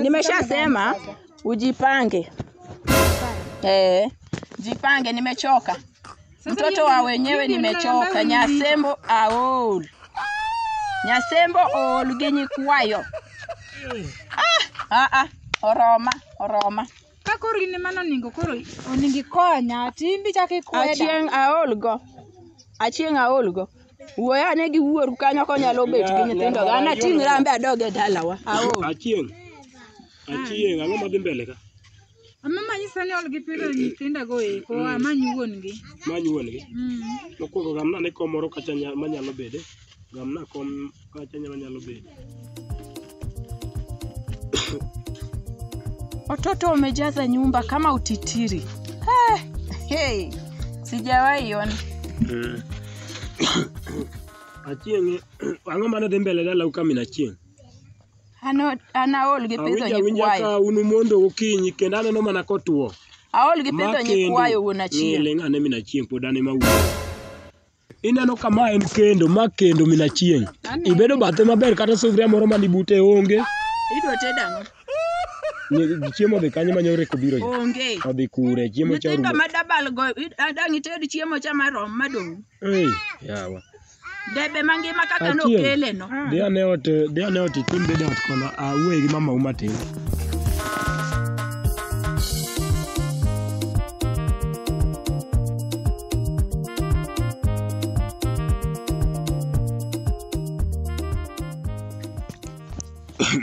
Nimeshasema ujipange. Eh, jipange, nimechoka. Mtoto wa wenyewe nimechoka. Nyasembo aol. Nyasembo ool ginyi kwayo. Ah, ah, ah. Oroma, oroma. Ka koro in ema noningo koro oningo ikonya timbi chak ikweda. Achieng aol go. Achieng aol go. Wuoyo ane gi wuoru kanyo konyalo bet gi nyithindo. An ating' rambe adog e dalawa. Aol. Achieng'. Achieng', ang'o madhi mbele ka? Ama manyi sani ol gi pidho nyithinda go eko, amanyi wuon gi. Manyi wuon gi. Mm. Mokwongo gamna ne kom moro kacha nya- manyalo bede. Gamna kom Kacha nyalo nyalo bedo. Watoto wamejaza nyumba kama utitiri. Eh, hey, sijawahi ona. Eh. Achieng' ang'o mane dhi mbele dalau ka min achieng'? Ano anaol gi pidho Awinjo awinja nyikwayo. ka unu mondo gokinyi kendo aneno mana kotwo. Aol gi pidho nyikwayo wuon achieng'. Ng'iling' ane min achieng' pod ane mawuoyo. Ineno ka ma en kendo, ma kendo min achieng'. Ibedo bathe maber kata sufria moro mani bute onge. Idwa tedo ang'o? Ni- Chiemo odhi kanye ma nyoreko biro yo? Onge. Odhi kure, chiemo cha Nyithindo orumo. ma dabal go, i- a- dang' ited chiemo cha marom madong'. Ei, yawa. Debe mangima kaka Achieng'. nokele no. Dhi ane ot, dhi ane ot itim bed ot kono, awuoye gi mamau matin.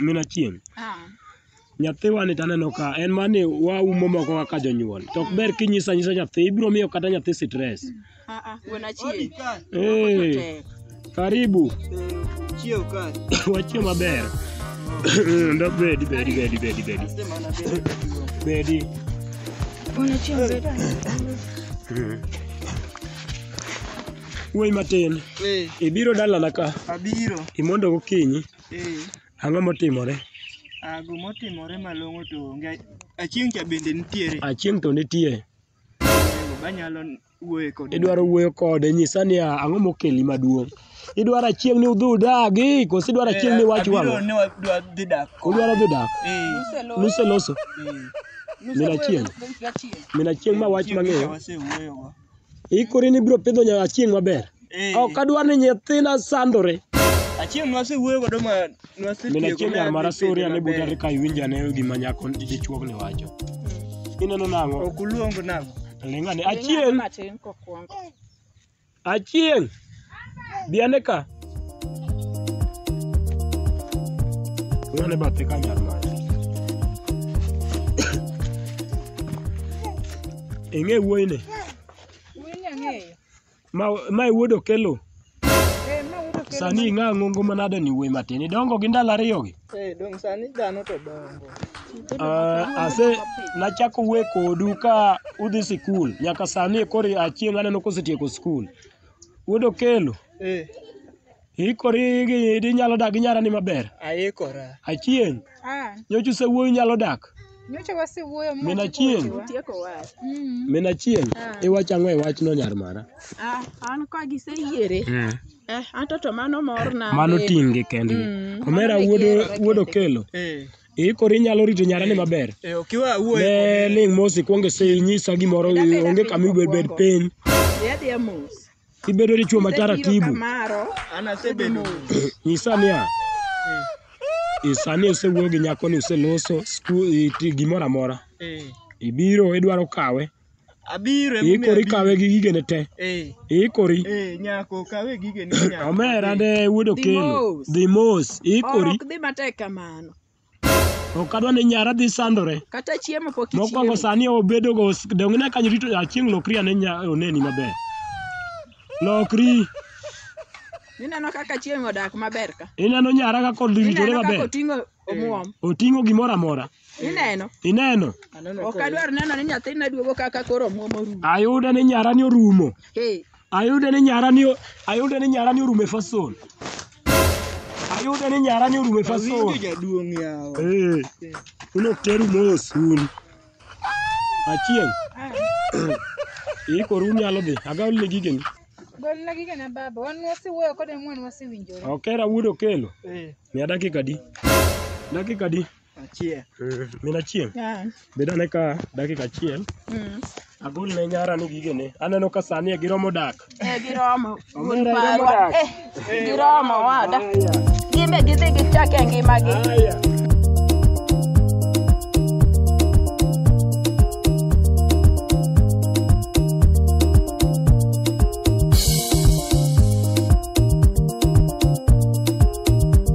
min achien Ah. nyathiwani to aneno ka en mani waumo moko kaka jonyuol to ok ber kinyisa nyisa nyathi ibiro miyo kata nyathi stress Ah, ah, wuon achiel. Odi ka. Hey, Tek. karibu Eh, Chiew ka. wachie maber ndo bedi bedi bedi bedi bedi Asante maana bebe. bedi Wuon achiel bed. wuoyi matin Eh, ibiro dalana ka abiro. imondo gokinyi Eh, ang'o motimore ago motimore malong'o to onge. Achieng' cha bende nitiere. achieng' to nitie Idwaro wuoyo kode nyisa niya ang'o mokeli maduong'. Idwaro achieng' ni udhi udagi koso idwaro achieng' ni wach wang'o? Udwaro dhi dak? Nuseloso? Min achieng'? Min achieng' ma wach mang'eyo? Ikori ni ibiro pidho nya achieng' maber? Eh, Ok adwar ni nyithinda sandore. achiel nwasewuoyo godo ma Min nwasetieko achiel ma yar mar adhi Asuria pidhe ne buta maber. ka iwinjo ane gima nyako dichuog ni wacho. Ineno nang'o? Ok uluong nang'o? Ling' ane. Achieng', Matin kokwongo. achieng'. Bi ane ka. Ling' ane bathe ka nyar mare. Ing'e wuoyini? Ma ma e wuod Okello. Eh, ma wuod Okello Sani man- ing'a ngongo manade ni wuoyi matin. Idongo gi ndalo ariyo gi. Eh, dong' sani dhano to dongo. Ah, ase nachako wuoyo kodu ka udhi sikul nyaka sani koro achieng' aneno kosetieko sikul. Wuod Okello, Eh, Iikori gi idi nyalo dak gi nyarani maber? Aikora. Achieng', Ah, nyocha usewuoyo nyalo dak? nyocha wasewuoyo ma Min Achieng', Tieko wach. Mm. min Achieng', Ah. iwacho ang'o e wachno nyar mara? Ah, an ka giseyiere. Eh, anto to mano morna. Mano be. ting'gi kendgi. Mm, Omera mano wuod gero kende. wuod Okelo, Eh, iikori nyalo rito nyarani maber? eh, ok iwe awuoye Ne kode. ling' mos ikwonge sei nyisa gimoro Dapeda onge piny kama ibed bed mokwongo. piny. Dhi adhiya mos. Ibedo dichwo ma taratibu. An asebedo Nyisa niya, i- sani osewuoyo gi nyakoni, useloso sku- i- ti- gimoro amora. eh, Ibiro idwaro kawe, abiro ema iikori omiyo kawe gi gigene te, abiro. Eh, iikori. eh, nyako kawe gige ni nyako. Omera de wuod Okelo, Dimos. dhi mos, iikori. Ok dhi matek kamano. ok adwa ni nyara dhi sandore kata chiemo pok mokwongo ichiemo sani obedo go donge ne kanyo rito achieng' lokri ane nya oneni maber lokri ineno kaka chieng odak maber ka ineno nyara kaka oritore ineno kaka maber oting'o omuom oting'o gimoro amora ineno ineno ok adwar neno ni nyathina duogo kaka koro omuom orumo ayude ni nyara ni orumo Hey, Ayude ni nyara ni ayude ni nyara ni orume fason. Ayude ni nyara ni orume fason. Awinjo jaduong' yawa. Eh. Uno teru mos un. Achieng. Iko ru nyalo dhi. Agaw le gige ni. Golna gige na baba, wan wasiwuoyo kode mwan wasiwinjore. Okera wuod okelo. Eh. Mia dakika di. Dakika di. Achiel. Mm, Min achiel, Ah, bed ane ka dakika achiel. mm. Agol ne nyara ni gigene. Aneno ka sani e giromo dak. Eh, giromo. Wuon Omera, parwa. iromo dak. Eh, giromo wada. Gimbe gidhi gichak e ngimagi. Haya.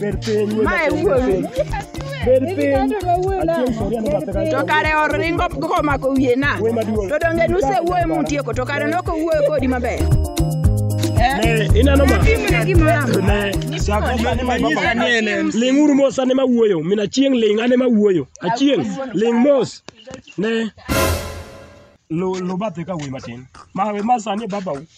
Ber piny. Ma e wuowi. Ber piny. Achieng' soria no bathe kanyo. To kare oringo komako wiye na. Wuoyi maduong'. To donge nusewuoyo mutieko to kare nok owuoyo kodi maber. Ne, ineno ma. Timne gimoro amora. Ne, sako sani ma baba. Ling' uru mos ane ma wuoyo. Min achieng' ling' ane ma wuoyo. Achieng' ling' mos. Ne. Lu lu bathe ka wuoyi matin. Ma ma sani e babau.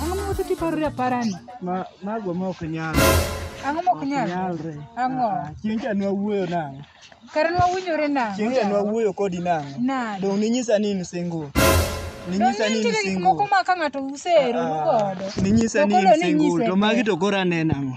Ang'o ma wacho tiparo raparani? Ma mago ma ok nyal. Ang'o ma ok nyal? Nyalre. Ang'o? Ah, Chieng' cha nwa wuoyo nang'o? Kare nwa winjore nang'o? Chieng' cha nwa wuoyo kodi nang'o? Nade? Dong' ninyisa ni in single. Ninyisa ni in Nitie gik moko single. ma ka ng'ato usero Ah, godo. Ninyisa ni in Nokolo ni single. nyise To magi te. to koro aneno ang'o?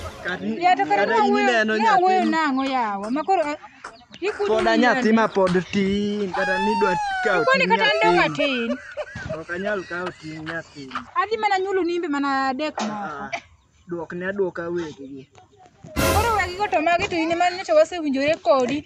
Yato kata kata in ineno ne awuoyo nyathi nang'o yawa ma koro a- ikudu koda nyathi nyathi ma pod tin kata nidwa kawo koni ting' kata an donga nyathi tin ok anyal kawo ting' nyathi adhi mana nyulu nimbe mana adek moko Ah, duokne aduoka weggi koro wegigo to magi to in ema nyocha wasewinjore kodi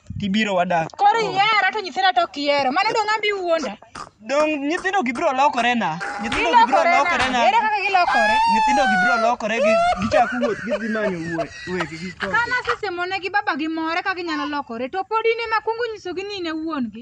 tibiro wadak. Koro ihera to nyithinda to ok ihero. Mano dong' ambi wuonda. Dong' nyithindo gi biro lokore na. Nyithindo gi biro Gilokore lokore na. na. Ere kaka gilokore? Nyithindo gi biro lokore gi gichako wuoth gidhi manyo wuoth weggi. Ka nasesemonegi babagi more ka ginyalo lokore to pod in ema kwongo nyisogi ni in e wuon-gi.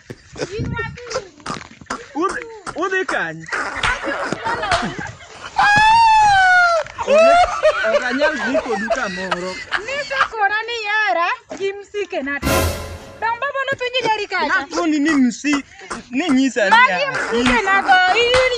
Udhi, udhi kanye? Ok anyal dhi kodu kamoro. Nisekona ni yara gi msike na to. Dong baba nopenjo jari kacha. Nakoni ni msi ni nyisa Magi niya. msike na to. Iyuni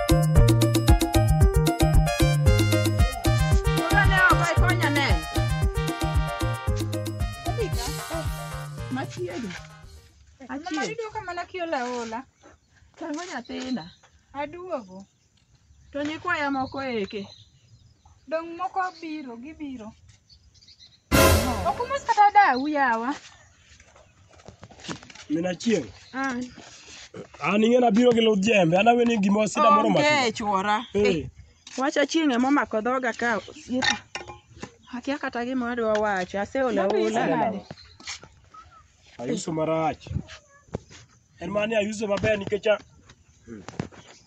Tango nyathina. Aduogo. To nyikwaya moko eke. Dong moko biro, gibiro. Okumos kata dawu yawa. Min Achieng', Ah, an ing'e nabiro gi ludh jembe, an aweni gima sida moro onge mati. chuora. Eh, Wach achieng' ema omako dhoga ka osiepa. Akia kata gima adwa wacho, aseol aola. nade? Ayuso marach. En mani ayuso maber nikech a-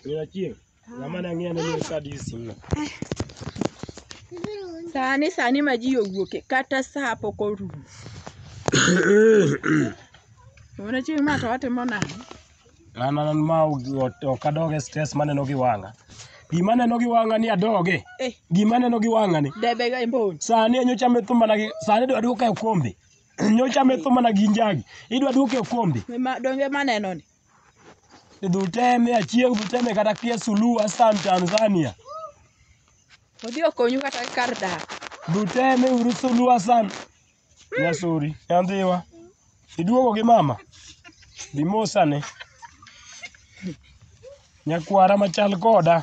Min Achieng', Jamani ang'eyo ni mimi kadi simna. Sani sani ma ji owuoke kata saa pok orumo. Mona chieng' ma to watimo nang'o? An an ma ok adoge stress maneno gi wang'a. Gima aneno gi wang'a ni adoge. Eh, Gima aneno gi wang'a ni. debe ga imbon. Sani nyocha metho mana gi sani dwa duoka e kombe. Nyocha metho mana gi njagi. Idwa duoka e kombe. Ma donge maneno ni. Idhuteme achieng' dhuteme kata kia Suluhu Hassan Tanzania. Odhi okonyu kata kar dak. Dhuteme uru Suluhu Hassan. Nyasuri, nyandhiwa. Iduogo gi mama. Bimosane. Nyakwara machal koda.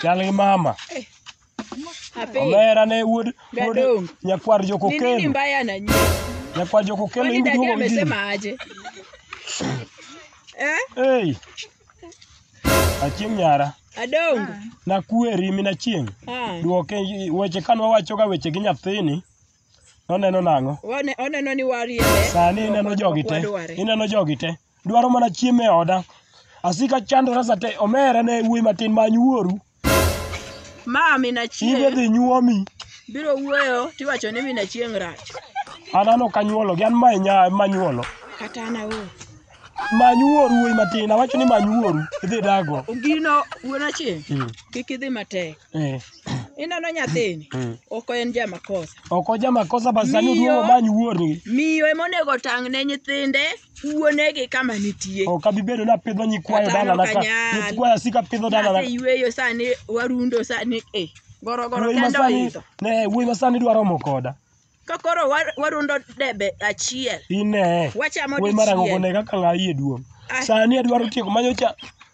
Chal gi mama. Ape. Omera ne wuod wuod Gadong. nyakwar Ni nini jokokelo. mbaya na nyinyi? Nyakwar jokokelo Kwani dadi iduogo mjini. amesema aje? Eh? Hey. Achieng' nyara. Adongo. Nakweri min achieng'. Ah. Duoke weche kane wawachoga weche gi nyathini. Noneno nang'o? One- Oneno ni wariebe. Sani ineno jogi te. Wadware. Ineno jogi te. dwaro mana chiemo e oda. Asika chandora sate omera ne wuoyi matin many wuoru. Ma Amina Ibe Chieng' dhi nyuomi. biro wuoyo tiwacho ni Amina Chieng' rach. An an ok anyuolo gi an ma nya ma nyuolo. Kata an aol. Many wuoru wuoyi matin awacho ni many wuoru idhi dago. Ogino wuon Achieng' Mm. kik idhi matek. Eh, Ineno nyathini? Mm. Ok en jamakosa. ok oja makosa bas sani Miyo. oduogo many wuorgi Miyo ema onego otang' ne nyithinde wuonegi kama nitie. ok abi bedo napidho nyikwayo Kata dalana ka nokanyal. nyikwayo asika pidho dalana Aseyueyo sani warundo sani eh. Gorogoro wuoyi kendo masani oidho. ne wuoyi masani dwa romo koda Ka koro wa- warundo debe achiel. ine Wachamo wuoyi marango dichiel. kone kaka ng'ayi e duong Ai. sani adwaro tieko manyo cha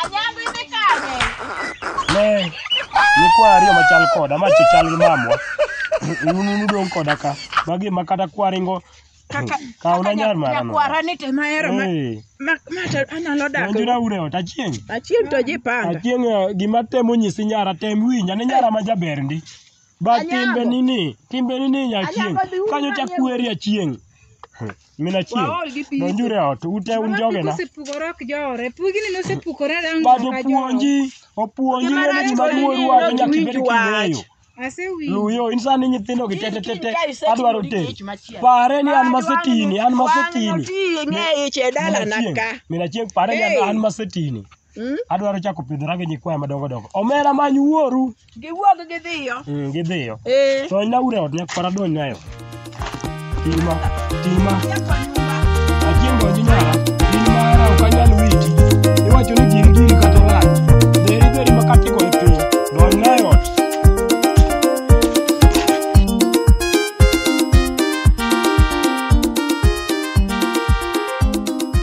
Anyango idhi kanye? Ne, nyikwa ariyo machal koda, ma chal gi mamwa. Un un udong' koda ka. Magi ma kata kwaringo Kaka Kaw na nyar mara no. nyakwara ni te mahero ma eh, ma ma to anyalo dak. donjra ure ot achieng'. Achieng' to ji panga. Achieng' eh, gima temo nyisi nyara tem winja ne nyara ma jaber ndi. Ba Anyango. timbe nini, timbe nini nya achieng'. Anyango dhi uru Kanyo cha manyo- kweri achieng'. Min achiel. Waol gi pii. Donjuru e ot. Ute un jogena. Osepukore ok jore. Pugini nosepukore rango But kaka joro. opuonji, opuonji Joma ng'eyo rach gima koni duong' neno wacho to nyaka ibed winj wach. king'eyo. Asewinjo. Luyo, in sani nyithindo gi tete tete Ka isetimo adwaro tero. tich machielo. Pare ni an masetini, an masetini. Wang'no ti ing'e ich e dalana Mina ka. chieng', Mina chieng' pare ni an- Hey. an masetini. Mm. Adwaro chako pidhora gi nyikwaya madongo dongo. Omera many wuoru. Giwuog gidhiyo. Mm, gidhiyo. Eh. To na ure ot nyak para don nayo. Tima, tima. Achieng' donji nyara. In mara ok anyal witi. Iwacho ni giri giri kata ng'at. Dheri dheri ma kati go e piny. Don nayo ot.